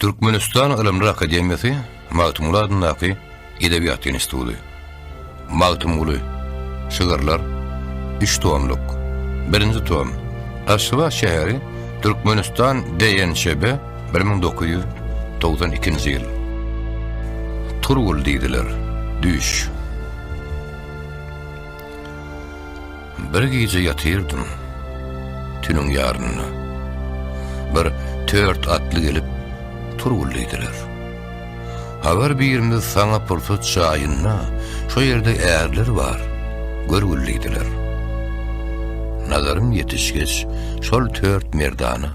Türkmenistan Ylymlar Akademiýasy Magtymguly adyndaky Edebiýat instituty. Magtymguly, Şygyrlar, üç tomluk, birinji tom, Aşgabat şäheri, Türkmenistan DNÇB, bir müň dokuz ýüz togsan ikinji ýyl. Turgul diýdiler, düýş. Bir gije ýatyrdym. Tünüň ýarynda. Bir tört atly gelip turguldydylar. Habar birimiz saňa pursat jaýynda, şo ýerde ärler bar, görgüldidiler. Nazarym ýetişgeç, şol tört merdana.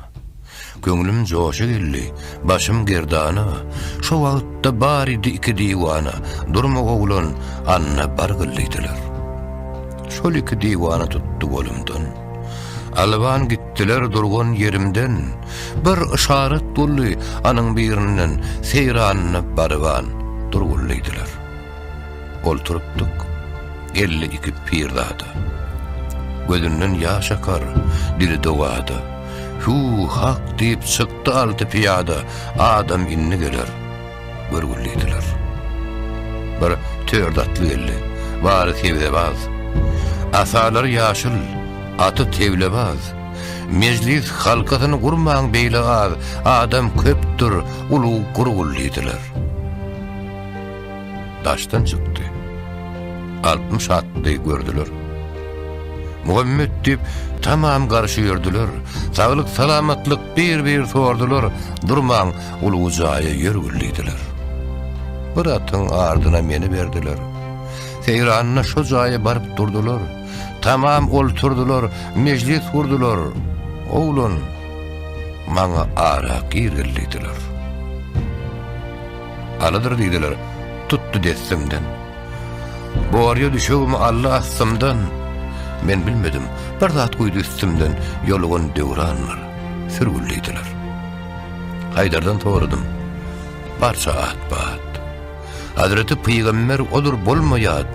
Köňlüm joşa geldi, başym gerdana, Şo wagtda baridi iki diwana, Durma oglan, anna bargyl diýdiler. Şol iki diwana tutdy golumdan, Alwan gitdiler durgan ýerimden, Bir yşarat boldy anyň birinden, Seýranyna barybaan, durgul diýdiler. Olturypdyk elli iki pirzada. Gözünden ýaş akar, dili dogada. Hü, hak diýip çykdy alty pyýada, Adam indi geler, görgül diýdiler. Bir törd atly geldi, bary sebzebaz. Asalary ýaşyl, aty teglebaz. Mejlis halkasyny gurmaň beýle az, Adam köpdür, ulug gurgul diýdiler. daşdan çykdy. Altmyş atly gördüler. Muhammet diýip, tamam garşy ýördüler. Saglyk, salamatlyk bir-bir sordular. Durmaň, ulugy jaýa ýör güldidiler. Bir atyň ardyna meni berdiler. Seýranyna şo jaýa baryp durdular. Tamam olturdylar, mejlis gurdular. Oglan, maňa ara gir güldidiler. Alydyr diýdiler, tutdy dessimden. Borýa düşegimi aldy astymdan, Men bilmedim, bir zat guýdy üstümden, Ýolugan döwranlar, sürgül diýdiler. Haýdardan soradym, barça at-bat. Hazreti pygamber odur bolma ýat,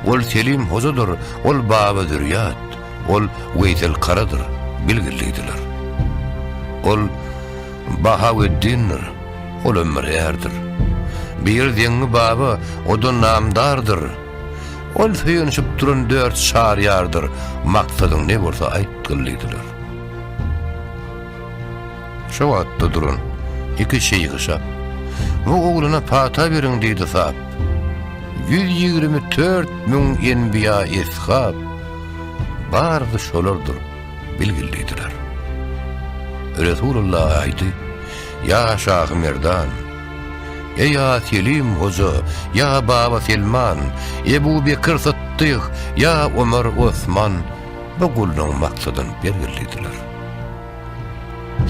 Ol Selim hojadyr, ol Baba zürýat, Ol Weýsel karadyr, bilgil diýdiler. Ol Bahaweddindir, Ol ömür ärdir. Bir deňňi baba, o-da namdardyr. Ol söýenişip duran dört çar ýardyr, Maksadyň ne bolsa aýt gylydylar. Şo wagtda duran iki şeýhişap, Bu oglana pata beriň diýdi sap. Ýüz ýigrimi tört müň enbiýa-eshap, Barysy şolardyr. bilgildidiler. Resulalla aýdy, Ýa Şahy Merdan! Eý Ýa Selim Hoja! Ýa Baba Selman! Ebu Bekir Sytdyk! Ýa Omar Osman! Bu gullugyň maksadyny belgildidiler.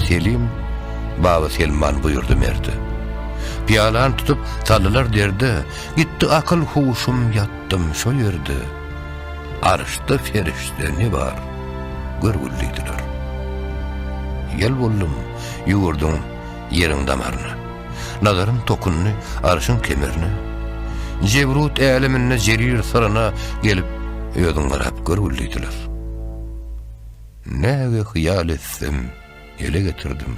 Selim Baba Selman buýurdy merde. Pyýalany tutup, saldylar derde, Gitdi akyl-huşum ýatdym şo ýerde. Arşda perişde ne bar, görgülliydiler. Ýel boldum, ýüwürdüm ýeriň damaryna. Nazarym tokundy arşyň kemerine. Jebrut äleminde jerir syryna gelip, özüň garap görgülliydiler. Näge hyýal etsem, ele getirdim.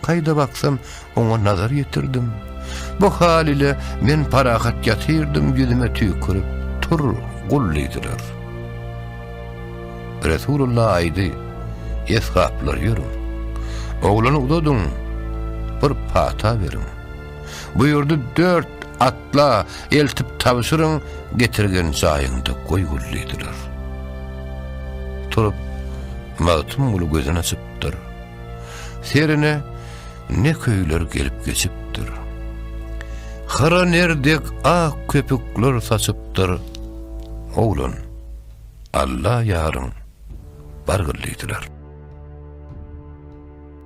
Kaýda baksam, oňa nazar ýetirdim. Bu hal ile men parahat ýatyrdym, ýüzüme tüýkürip, Tur, gul diýdiler. Resulullah aýdy, Eshaplar ýörüň. Oglany uzadyň, bir pata beriň. Buýurdy, dört at Atla, eltip tabşyryň, getirgen jaýyňda goý gül diýdiler. Turup, Magtymguly gözüni açypdyr. Serine ne köýler gelip geçipdir. Hyra nerdek ak köpükler saçypdyr. Oglan, Alla ýaryň, bar gül diýdiler.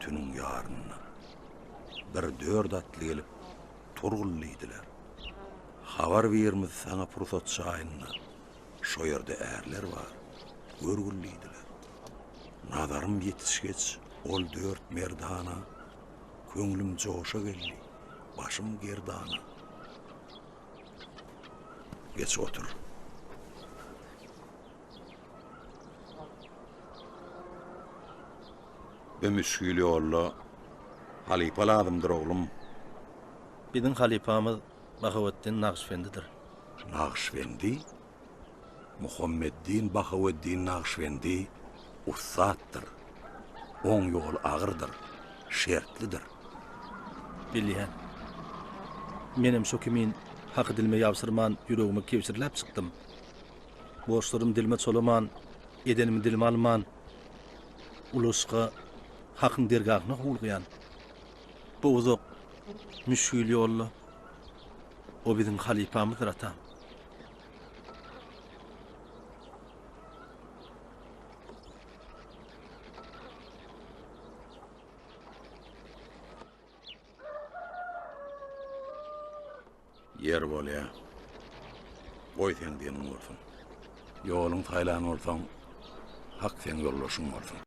Tüniň ýarynda bir dört atly gelip Turgul diýdiler. Habar birimiz saňa pursat çaýynda şo ýerde ärler bar, görgül diýdiler. Nazarym ýetişgeç ol dört merdana köňlüm joşa geldi, başym gerdana. Geç otur. we müşgil ýolda halypa lazymdyr, oglum. Biziň halypamyz Bahoweddin Nagyşbendidir. Nagyşbendi? Muhammeddin Bahoweddin Nagyşbendi ussatdyr. Oň ýoly agyrdyr, şertlidir. Bilýän. Menem şo kimin haky dilime ýabşyrman, ýüregime kebşirläp çykdym. Borçlarymy dilime çolaman, edenimi dilime alman, Ulusga Hakyň dergahyna howlugýan bu uzak müşgil ýolda O biziň halypamyzdyr atam. Ýer bolýa. Goý seň diýeniň bolsun. Ýoluň saýlan bolsaň, hak seň ýoldaşyň bolsun.